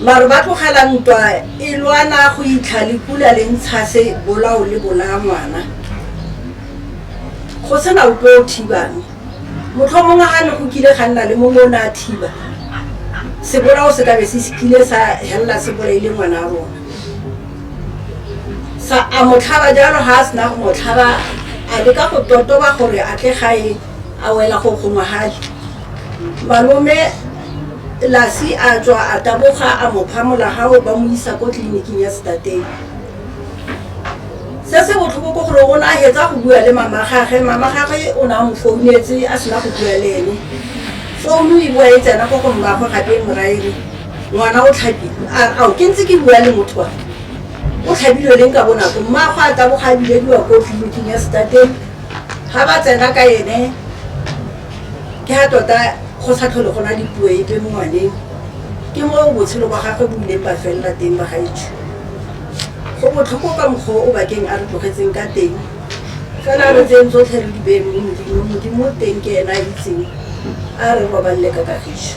Maru ba tlogela ntwa e lwana go itlha le pula le ntshase bolao le bolaya ngwana. Go sena ope o thibang. Motlhomongwe ga ne go kile ga nna le mongwe o ne a thiba, sebolao se kabe se kile sa helela se bolaile ngwana rona. Sa a mo tlhaba jalo ga a sena go mo tlhaba a leka go totoba gore a tle gae. a wela go kgongwagadi malome lasi a tswa a taboga a mo phamola gago ba mo isa ko tleliniking ya setateng se se botlhoko ko gore o ne a hetsa go bua le mama gage mama gage o ne a mo founetse a sena go bua le ene founu e bua e tsena ko go mmagwe gape e moraele ngwana o tlhabile ao ke ntse ke bua le motho wa o tlhabilwe leng ka bonako mmagwe a taboga a bilediwa ko tleliniking ya setateng ga ba tsena ka ene ke ga tota go sa tlhole go na dipuo epe mo ngwaneng ke mo botshelo ba gagwe bo ileng ba felela teng ba gaetsho go botlhoko ka mokgwa o bakeng a re tlogetseng ka teng fela re tseng tsotlhe re dibeng mo modimo modimo teng ke ena a itseng a re robalele ka kagiso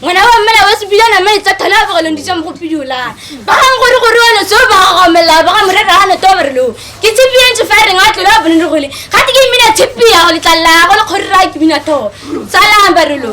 ngwana wa mmela wa sebila na mai tsa thana ba golong ditsa mo go pidola ba ga gore gore wa no so ba go mela ba ga mure ra no to ba re lo ke tsipi ya ntse fire nga tlo ba bone gole ga te ke mina tsipi ya go letlalla go le gore ra ke mina to tsala ba re lo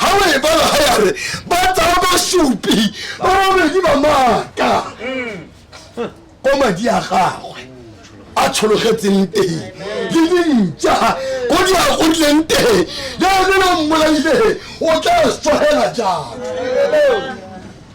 ga o e bala ga yare ba tsaya basupi ba babedi ba maaka ko madi a gagwe a tshologetseng teng le dintša ko di a godileng teng le ene no mmolaile o tla sogela jang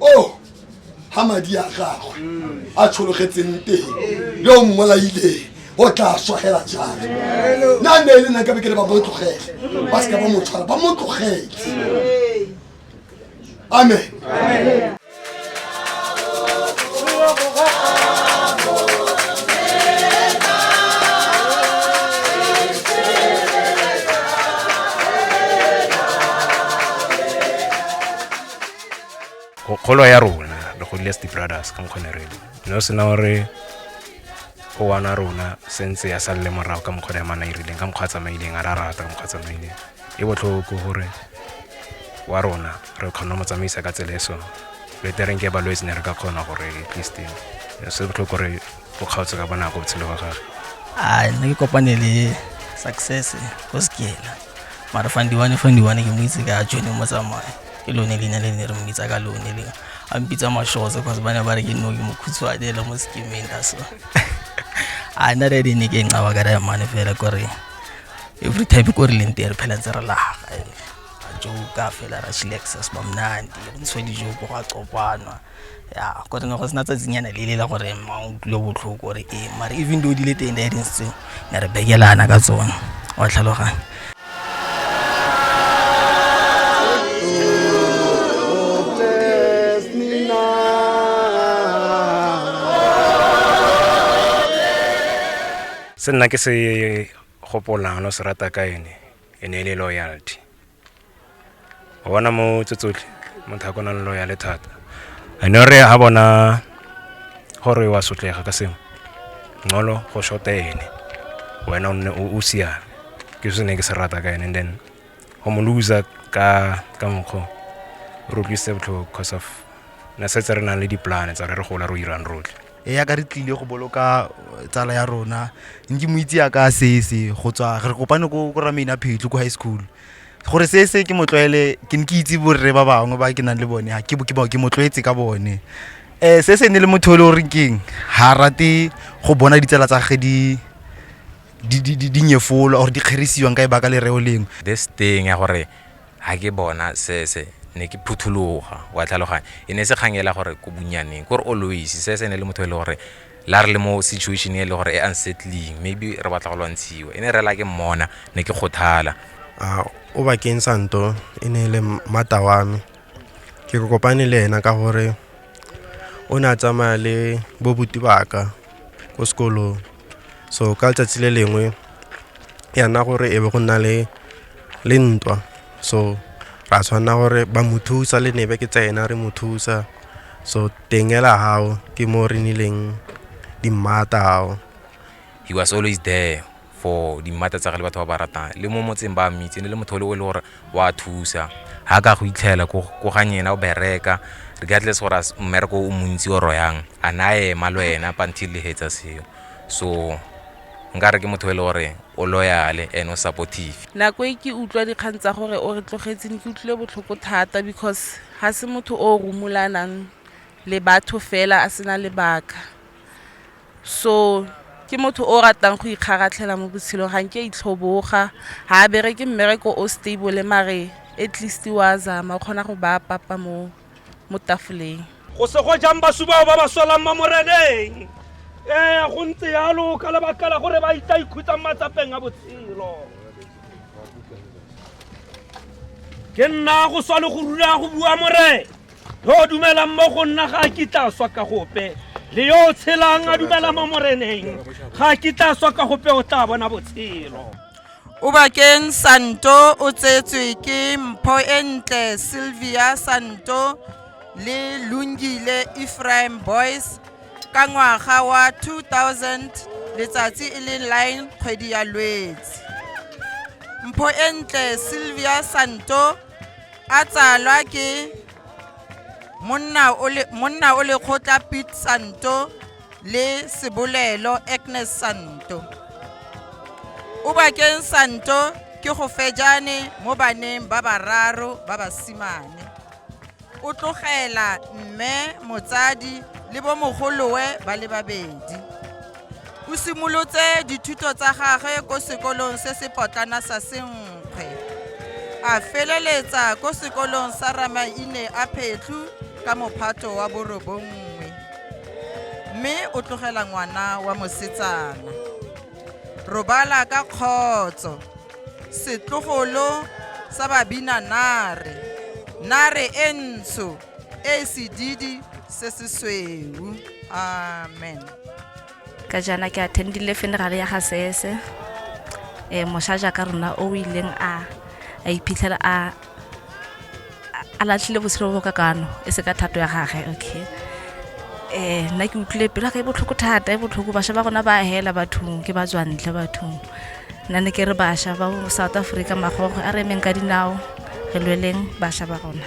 o oh, ga madi a gagwe a tshologetseng teng le o mmolaileng o tla swagela jang na ne e le nna ka be ke le ba mo tlogele ba seka ba mo tshwara ba mo tlogele amen go kgolo ya rona re godile as di-brothers ka mokgone re no sena gore o wana rona sentse ya salele morago ka mokgwa ya mana e rileng ka mokgwa a tsamaileng a ra rata ka mokgwa a tsamaileng e botlhoko gore wa rona re kgona mo tsamaisa ka tsela e so betereng ke balwetse ne re ka kgona gore at least se botlhoko gore go kgaotse ka bonako botshelo wa gage a nna ke kopane le success ko sekela mara fandiwane fandiwane ke mo itse ka jone mo tsamaya ke lone leina le ne re mo itsa ka lone le a mpitsa mashose cause ba ne ba re ke nno ke mokhutshwane le mo sekemeng ka so a nna re di ne ke ncawa ka re mane fela kore every time ko re leng teng re phela ntse re laga joka fela ra chilexa sebamnandi re ntsho dijo go ga copanwa ya gore ne go sena tsatsinyana le lela gore ma o tlile botlhoko gore ee mare even though di le teng di tseo ne re bekelana ka tsone wa tlhaloganya se nna ke se gopolang lo se rata ka ene e ne e le loyalty o bona mo tse tsotlhe motho a kona le loya le thata ane re ha bona gore wa sotlega ka sengwe ngolo go shota ene wena o siame ke se ne ke se rata ka ene and then go mo loser ka ka mokgwa re utlwisitse botlhoko because of ne setse re nang le dipolane tsa re re gola ro irang rotlhe e ya ka re tlile go boloka eh, tsala ya rona nke mo itse yaka sese go tswa re kopane ko ko ramaina phetlo ko high school gore sese ke motlwaele ke ne ke itse borre ba bangwe ba ke nang le bone ha ke bo- ke bo- ke motlwaetse ka bone um se se ne le motho o le o reng keng ga rate go bona ditsala tsa ge di di- di- di- di nyefolwa or di kgerisiwang ka e baka lereo lengwe this thing ya gore Ha ke bona Sese ne ke phuthologa, wa tlhaloganya. E ne e se kgang ela gore ko bonnyaneng, kore always Sese e ne e le motho e le gore le ha re le mo situation e le gore e unsettling maybe re batla go lwantshiwa, e ne e re hela ke mmona ne ke kgothala. A o bakeng sa nto e ne e le mmata wa me, ke re kopane le ena ka gore o ne a tsamaya le bobuti baka ko sekolong. So ka letsatsi le lengwe ya nna gore e be go nna le. le ntwa so ra tshwanela gore ba mo thusa le nebe ke tsena re mo thusa so teng ela gago ke mo re nileng dimmata gago he was always there for dimmata tsa ge le batho ba ba ratang le mo motseng ba mmitseng le motho o le o e le gore wa thusa ga ka go itlhela ko ganye ena o bereka regardless gore a mmereko o montsi oro yang a na ema le wena pantil le hetsa seo so Nkare ke motho e le gore o loyale and o supportive. Nako e ke utlwa dikgang tsa gore o re tlogetse ne ke utlwile botlhoko thata because ga se motho o rumulanang le batho fela a sena lebaka so ke motho o ratang go ikgaratlhela mo botshelong ga nke a itlhoboga ga a bereke mmereko o stable mare at least wa zama o kgona go baya papa mo mo tafoleng go se go jang basu bao ba ba solang mo moreneng ee go ntse yalo ka lebaka la gore ba itla ikhutsang matsapeng a botshelo ke nna go swa le go rula go bua morena yo o dumelang mo go nna ga a kitla swa ka gope le yo o tshelang a dumela mo moreneng ga a kitla swa ka gope o tla bona botshelo Obakeng Santo o tsetswe ke mpho e ntle Sylvia Santo le Lungile Ephraim Boys ka ngwaga wa 2000 letsatsi e le 9 kgwedi ya Lwetse. Mpho e ntle Sylvia Santo a tsalwa ke monna o le kgotla Pete Santo le sebolelo Agnes Santo. Ubakeng Santo ke go fejane mo baneng ba bararo ba basimane. O tlogela mme, motsadi le bomogolowe ba le babedi. O simolotse dithuto tsa gagwe ko sekolong se se potlana sa Senkgwe. A feleletsa ko sekolong sa Ramaine a Phetlu ka mophato wa borobongwe. mme o tlogela ngwana wa mosetsana robala ka kgotso setlogolo sa babina nare nare e ntsho e sedidi se se sweu amen ka jaana ke attendile funeral ya ga sese eh mosha jaaka rona o ileng a a iphitlhela a a latlhile botshelo bo ka kano e se ka thato ya gage okay eh nna ke utlwile pelo ka e botlhoko thata e botlhoko basha ba rona ba hela bathong ke ba tswantle bathong nna ne ke re basha ba south africa magogo a re emeng ka dinao re lweleng basha ba rona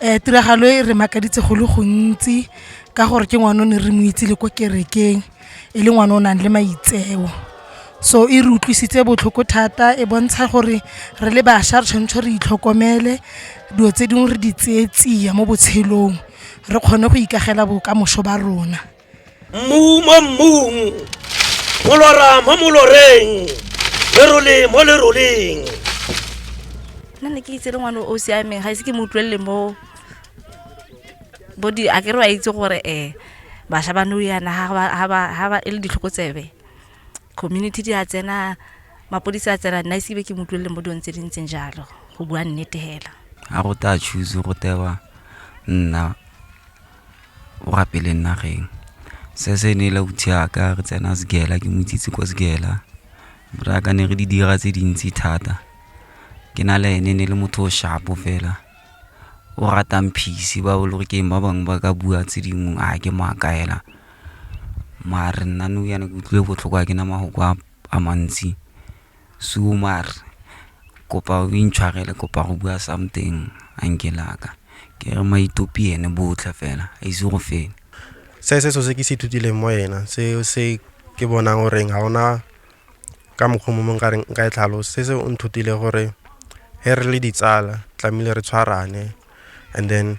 um tiragalo e re makaditse go le gontsi ka gore ke ngwana o ne re mo itse le ko kerekeng e le ngwana o nang le maitseo so e re utlwisitse botlhoko thata e bontsha gore re le bašwa re tshwanetse re itlhokomele dilo tse dingwe re di tseye tsia mo botshelong re kgone go ikagela bokamoso ba rona mmu mo mmung molora mo moloreng lerole mo leroleng nna ne ke itse le ngwane o siameng ga ise ke mo utlwelele mo bo di a kere wa itse gore um bašwa ba nou yana ga ba e le ditlhokotsebe community di a tsena mapodisi a tsena nna isibe ke mo utlwelele mo dilong tse di ntseng jalo go bua nnete fela ga go ta choose go tewa nna o rapeleng nageng. Se se ne le ausi wa ka re tsena Sekela ke mo itsise kwa Sekela, ra ka ne re di dira tse dintsi thata. Ke na le ene ne le motho o sharp-o fela o ratang peace ba bo Lorikeeng ba bangwe ba ka bua tse dingwe a ke mo akaela. Mare nna nou yana ke utlwile botlhoko ga ke na mafoko a mantsi suo mare kopa o intshwarele kopa go bua something uncle wa ka, ke re maitopi ene botlhe fela a ise go fele. Se se so se ke se ithutileng mo ena se se ke bonang goreng ga ona ka mokgwa mo mongwe kareng nka e tlhalosa se se o nthutile gore ge re le ditsala tlamehile re tshwarane and then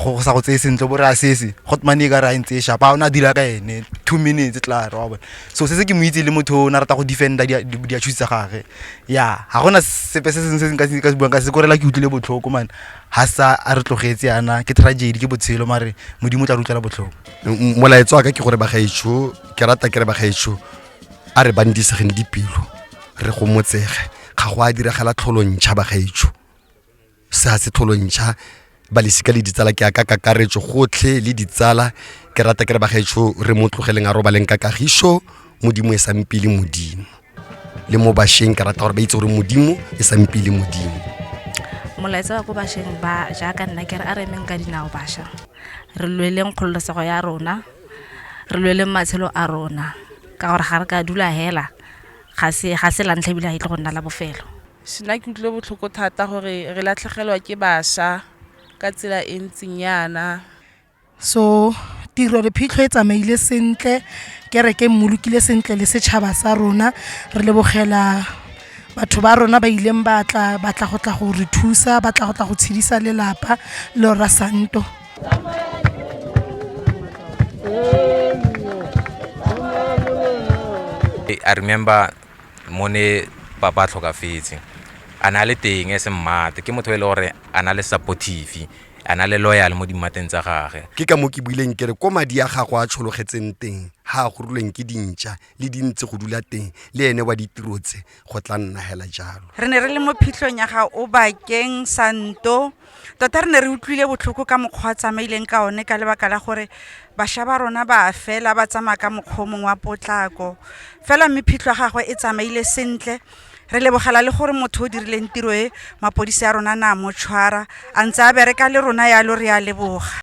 go sa go tseye sentle bo re a sese got mane e ka re a ntse e shapa o ne a dira ka ene two minutes tla re wa bone so se se ke mo itse le motho o ne a rata go defenda diachusi tsa gage ya ga gona sepe se sengwe se nka se buang ka se korela ke utlwile botlhoko mane ga sa a re tlogetse yana ke tragedy ke botshelo mare modimo o tla re utlwela botlhoko molaetso wa ka ke gore bagaetsho ke rata ke re bagaetsho a re bandisegeng dipelo re gomotsege ga go a diragala tlholo ntšha bagaetsho sa setlholontsha ba lesika le ditsala ke aka kakaretso gotlhe le ditsala ke rata ke re bagaetsho re mo tlogeleng a robaleng ka kagiso modimo e sang pele modimo le mo bašweng ke rata gore ba itse gore modimo e sang pele modimo molaetsa wa ko bašweng ba jaaka nna ke re a re emeng ka dinao bašwa re lweleng kgololosego ya rona re lweleng matshelo a rona ka gore ga re ka dula hela ga se ga se lantlha ebile ga e tle go nna la bofelo Nna ke utlwile botlhoko thata gore re latlhegelwa ke basha ka tsela e ntseng yana. So tiro re phitlho e tsamaile sentle, kereke e mmolokile sentle le setšhaba sa rona. Re lebogela batho ba rona ba ileng ba tla ba tla go tla go re thusa, ba tla go tla go tshedisa lelapa le Rra Santo. mo ne papa a tlhokafetse a ne a le teng as a mmaarty ke motho e le gore a na le supportive a na le loyal mo dimatsing tsa gage ke ka mo ke buileng kere ko madi a gago a tshologetseng teng ga a gorilweng ke dintšha le dintse go dula teng le ene wa ditiro tse go tla nna hela jalo re ne re le mo phitlhong ya ga o bakeng santo Tota re ne re utlwile botlhoko ka mokgwa a tsamaileng ka one ka lebaka la gore basha ba rona ba fela ba tsamaya ka mokgwa mongwe wa potlako fela mme phitlho ya gagwe e tsamaile sentle re lebogela le gore motho o dirileng tiro e mapodisi a rona na motshwara a ntse a bereka le rona yalo re a leboga